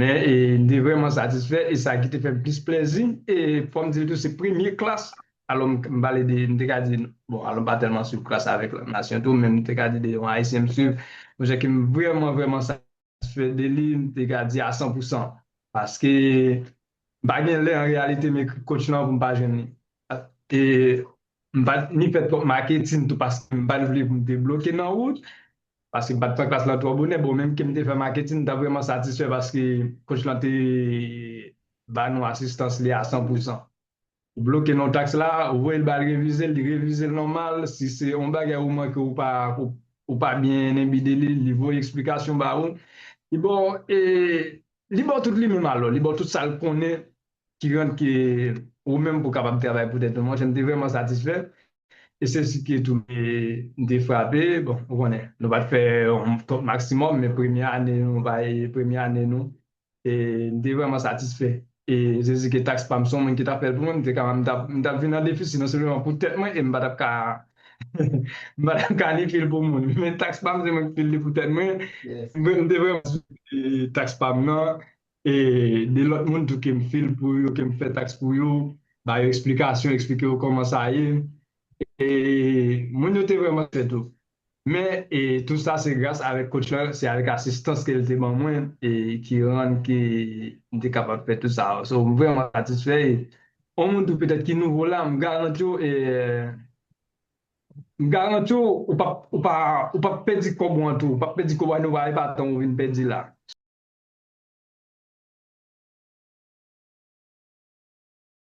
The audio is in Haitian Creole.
Men, m te vrèman satisfè e sa ki te fè m plis plèzi, e fò m di l tou se premye klas, alò m pale de, m te ka di, bon, alò m pa tèlman swiv klas avèk lòt nasyon tou, men m te ka di de yon Ayisyen m swiv, yon chè ke m vrèman, vrèman satisfè de li, m te ka di a san pou san. Paske, M pa gen lè an reyalite m ekri coach lan pou m pa jwenn li. E m pa t ni fè twòp maketin tou paske m pa t vle pou m te bloke nan wout, paske m pa t pran klas lan twò bonè. Bon, menm ke m te fè maketin, m ta vrèman satisfè paske coach lan te ba nou asistans li a san pou san. Ou bloke non tax la, ou voye l ba l revize l, li revize l nòmal, si se yon bagay ou manke ou pa ou pa byen enbi de li, li voye eksplikasyon ba ou, li ba w e li ba w tout li menm alò, li ba w tout sa l konnen ki rant ke ou menm pou kapab travay pou tèt ou. Monchè m te vrèman satisfè e se si ke tou e m te frape, bon ou konnen nou pa t fè yon top maximum men premye ane nou bay premye ane nou e m te vrèman satisfè e Jezi ke taks pa m son moun ki t ap fè l pou mwen, m te ka m t ap vin an defisi non sèlman pou tèt mwen e m pa t ap ka m pa t ap ka ni fè l pou moun men taks pa m se mwen ki fè l pou tèt mwen m te vrèman satisfè taks pa m nan e de lòt moun tou ke m fè l pou yo ke m fè taks pou yo ba yo eksplikasyon eksplike yo kòman sa ye e moun yo te vrèman satisfè tou. Men e tou sa se gras avèk coach lan, se avèk asistans ke li te ban mwen e ki rann ke m te kapab fè tou sa. So m vrèman satisfè e on moun tou petèt ki nouvo la, m garanti w e m garanti w ou pap ou pa ou pap pèdi kòb ou an tou, ou pap pèdi kòb ou a nou va e pa tan ou vin pèdi la.